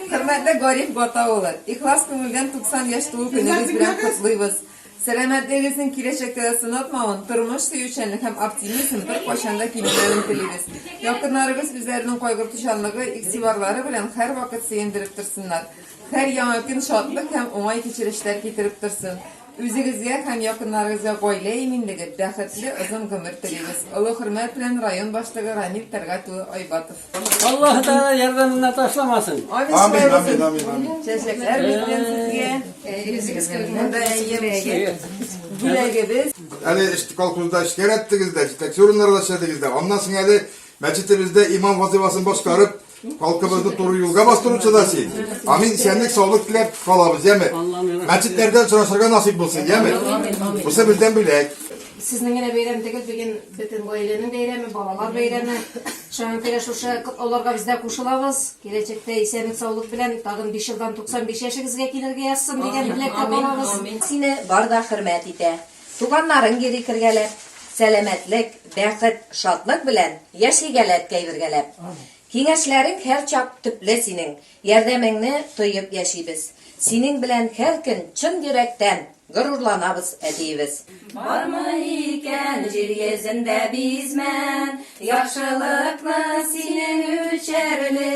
Хөрмәтле Гариф Гата улы, ихлас күңелдән 90 яшь туу көнегез белән котлыйбыз. Сәламәтлегегезнең киләчәктә дә сынатмавын, тормыш сөючәнлек һәм оптимизм беркайчан да кимемәвен телибез. Якыннарыгыз үзләренең кайгыртучанлыгы, игътибарлары белән һәрвакыт сөендереп торсыннар. Һәр яңа көн шатлык һәм уңай кичерешләр китереп торсын. Үзегезгә һәм якыннарыгызга гаилә иминлеге, бәхетле озын гомер телибез. Олы хөрмәт белән район башлыгы Рамил Тәлгать улы Айбатов. Аллаһ Тәгалә ярдәменнән ташламасын. Амин, Амин, шулай амин, булсын. амин, амин. Чәчәкләр бездән сезгә. Үзегезгә монда әйе, бүләгебез. Әле эш- колхозда эшкәрәттегез дә, җитәкче урыннарда эшләдегез дә. Аннан соң әле мәчетебездә имам вазыйфасын башкарып, Халкыбызны туры юлга бастыручы да син. Амин, исәнлек, саулык теләп калабыз, яме? Мәчетләрдән сорашырга насыйп булсын, яме? Бусы бездән бүләк. Сезнең генә бәйрәм түгел, бүген бөтен гаиләнең бәйрәме, балалар бәйрәме. Шуның кирә шушы аларга без дә кушылабыз. Киләчәктә исәнлек, саулык белән тагын 5 елдан 95 яшегезгә килергә язсын дигән теләктә калабыз. Сине бар да хөрмәт итә. Туганнарың йөри кергәләп. Сәламәтлек, бәхет, шатлык белән Яшигәлә әткәй бергәләп. Киңәшләрең һәрчак төпле синең, Ярдәмеңне тоеп яшибез. Синең белән һәр көн чын йөрәктән Горурланабыз, әтиебез. Бармы икән җир йөзендә бизмән, Яхшылыкны синең үчәрли.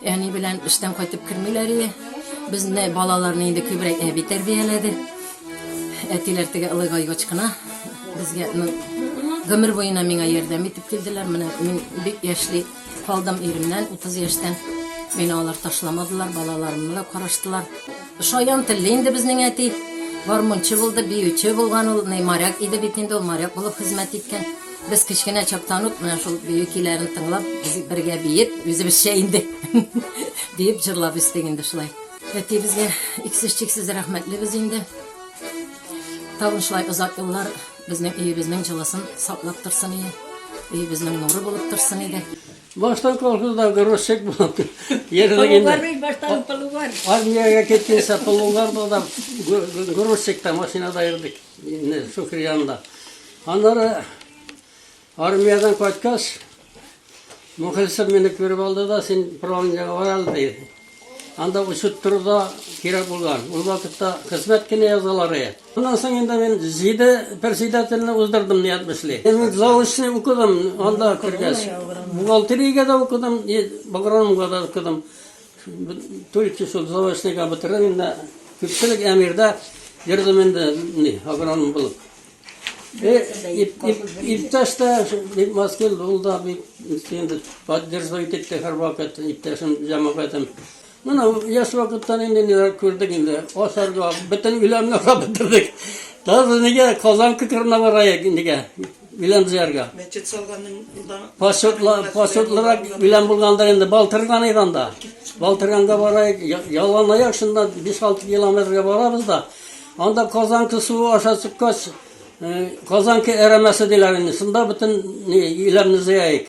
Әни белән эштән кайтып кермиләр иде. Безне балаларны инде күбрәк әби тәрбияләде. Әтиләр теге Олы Гайгочкына безгә ну, гомер буена миңа ярдәм итеп килделәр. Менә мин бик яшьли калдым иремнән, 30 яшьтән. Мені алар ташламадылар, балаларымны да караштылар. Шаян телле инде безнең әти. Гармунчы булды, биюче булган ул, моряк иде бит инде, ул моряк булып хезмәт иткән. Без кечкенә чактан ук менә шул бию көйләрен тыңлап, без бергә биеп, үзебезчә инде биеп җырлап үстек инде шулай. Әтиебезгә иксез-чиксез рәхмәтлебез инде. Тагын шулай озак еллар безнең өебезнең җылысын саклап торсын иде. Өебезнең нуры булып торсын иде. Баштан колхозда грузчик булып йөрдек инде. Полугар, баштан полугар. Армиягә киткәнче полугар да грузчикта машинада йөрдек. Инде Шөкер янында. Аннары армиядән кайткач, Мөхлисов мине күреп алды да, син правлениегә бар әле ди. Анда учет тору да кирәк булган. Ул вакытта хезмәт кенә язалар иде. Аннан соң инде мин җиде председательне уздырдым ният бешли. Мин заочный укыдым анда кергәч. Бухгалтериягә дә укыдым, и агрономга да укыдым. Төрки шул заочныйга бетереп инде күпчелек әмирдә йөрдем инде ни агроном булып. Э, иптәш тә бик маскил булды, бик инде поддерживать итте һәрвакыт иптәшем, җәмәгатем. Менә яшь вакыттан инде ниләр күрдек инде. Асарга, бөтен үләнне бетердек. Даже нигә Казан күкренә барайык нигә? Үлән җыярга. Мәчет салганың да. Почетлар, почетлырак үлән булганда инде Балтырган иде анда. Балтырганга барайык, ялан аяк шунда 5-6 километрга барабыз да. Анда Казанка суы аша чыккач, Казанка әрәмәсе диләр инде. Шунда бөтен үләнне җыяйык.